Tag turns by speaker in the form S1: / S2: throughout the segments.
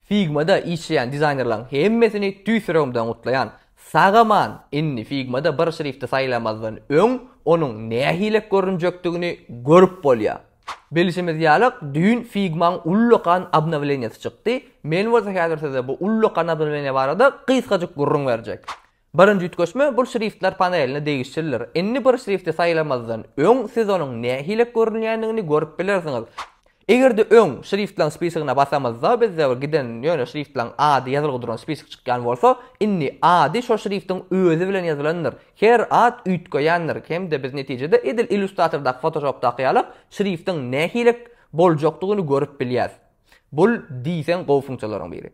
S1: Figma-da işleýän dizaýnerleriň hemmesini tüýs ýüregimden gutlaýan. Sag-aman! Indi Figma-da bir şrifti saýlamazdan öň onuň nähili görünjekdigini görüp bolýar. Bilşimiz ýaly, düýn Figma-nyň ullakan obnowleniýasy çykdy. Men bolsa häzir size bu ullakan obnowleniýa barada gysgajyk gürrüň berjek. Birinji üýtgeşme bul şriftler paneline degişlidir. Indi bir şrifti saýlamazdan öň siz onuň nähili görünýändigini görüp bilersiňiz. Eger-de öň şriftleriň spisigine basamyzda bizde bir giden ýöne şriftleriň ady ýazylgy duran spisik çykýan bolsa, indi ady şo şriftiň özi bilen ýazylandyr. Her at üýtgeýändir hem-de biz netijede edil illustratordaky fotoshopdaky ýaly şriftiň nähili boljakdygyny görüp bilýäs. Bul diýseň gowy funksiýalaryň biri.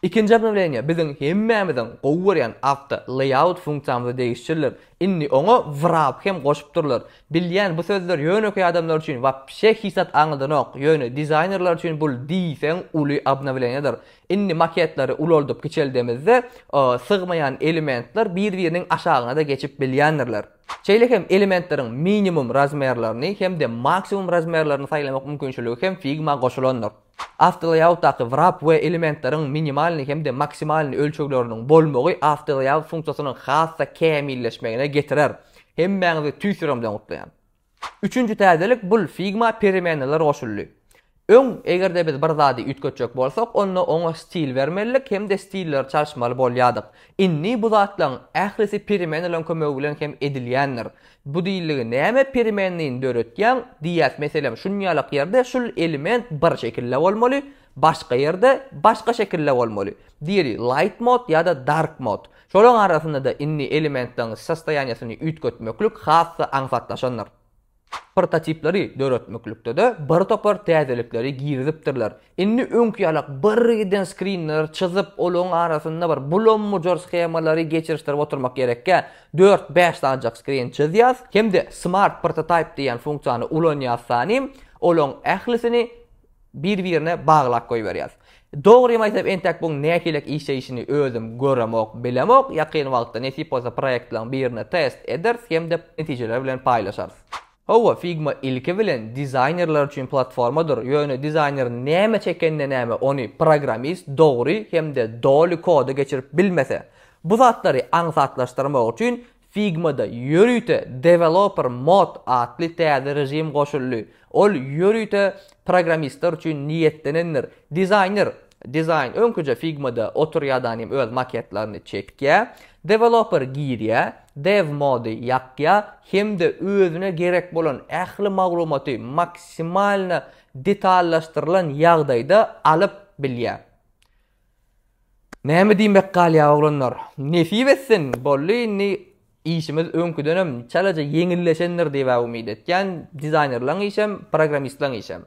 S1: Ikinji obnowleniýa biziň hemmämiziň gowy görýän awto layout funksiýamyza degişlidir. Indi oňa wrap hem goşupdyrlar. Bilýän bu sözler ýönekeý adamlar üçin wapşe hiç zat aňladanok, ýöne dizaýnerler üçin bul diýseň uly obnowleniýadyr. Indi maketleri ulaldyp kiçeldemizde sygmaýan elementler bir-biriniň aşagyna-da geçip bilýändirler. Şeýle hem elementleriň minimum razmerlerini hem-de maksimum razmerlerini saýlamak mümkinçiligi hem Figma goşulandyr. Awtolaýautdaky wrap we elementleriň minimalny hem-de maksimalny ölçegleriniň bolmagy awtolaýaut funksiýasynyň has-da kämilleşmegine getirer. Hemmäňizi tüýs ýürek bilen gutlaýan! Üçünji täzelik, bul Figma peremenneler goşuldy. Öň, eger-de biz bir zady üýtgetjek bolsak, onda oňa stil bermelidik hem-de stilleri çalyşmaly bolýardyk. Indi bu zatlaryň ählisi peremenneleriň kömegi bilen hem edilýändir. Bu diýildigi näme perimendini döretýäň diýýäs meselem şunýalak ýerde şul element bir şekilde bolmaly başga ýerde başga şekilde bolmaly diýeli light mode ýada dark mode şolaň arasyndada indi elementleriň sostoýaniýesini üýtgetmeklik hasda aňsatlaşandyr prototipleri döretmeklikdede bir topar täzelikleri girizipdirler Indi öňki ýalak birgiden skrinleri çyzyp, olaryň arasynda bir bulam-mujur schemalary geçirişdirip oturmak gerekkä, dört-bäş sanjak skrin çyzýas hem-de Smart Prototype diýen funksiýany ulanýas sanym, olaryň ählisini bir-birine baglap goýberýas. Dogrymy aýtsam, entek buň nähilek işleýşini özüm göremok, bilemok, ýakyn wagtda nesip bolsa proýektleriň birine test ederis hem-de netijeleri bilen paýlaşarys. Hawa, Figma ilki bilen dizaýnerler üçin platformadyr, ýöne dizaýner näme çekende näme ony programmist dogry hem-de doly koda geçirip bilmese. Bu zatlary aňsatlaşdyrmak üçin Figma-da ýörite Developer Mode atly täze režim goşuldy. Ol ýörite programmistler üçin niýetlenendir. Dizaýner Dizaýn öňküje Figma-da otur ýadan hem öz maketlerini çekýä, deweloper girýä, dev mode ýakýa hem-de özüne gerek bolan ähli maglumaty maksimalna detallaşdyrylan ýagdaýda alyp bilýä. Näme diýmek galýa oglanlar. Nesip etsin, boldy indi Işimiz öňküdenem çalaja ýeňilleşendir diýibä umyt etýän, dizaýnerlaň işem, programmistlaň işem.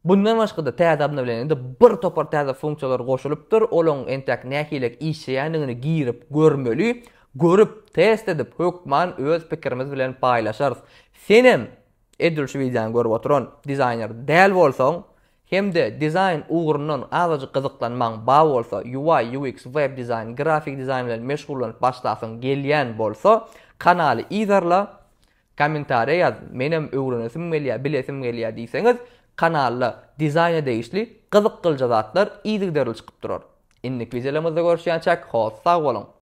S1: Bundan başga-da täze obnowleniýede bir topar täze funksiýalar goşulypdyr, olaň entäk nähilek işleýändigini girip görmeli, görüp, test edip, hökman öz pikirimiz bilen paýlaşarys. Senem, edil şu wideony görüp oturan, dizaýner däl bolsaň, Hem-de dizaýn ugrundan azajyk gyzyklanmaň bar bolsa, UI, UX, web dizaýn, grafiki dizaýn bilen meşgullanyp başlasyň gelýän bolsa, kanaly yzarla, kommentariýa ýaz, menem öwrenesim gelýär, bilesim gelýär diýseňiz, kanalda dizaýna degişli gyzykylja zatlar yzygiderli çykyp durar. Indiki wideolarymyzda görüşýänçäk, hoss sag boluň!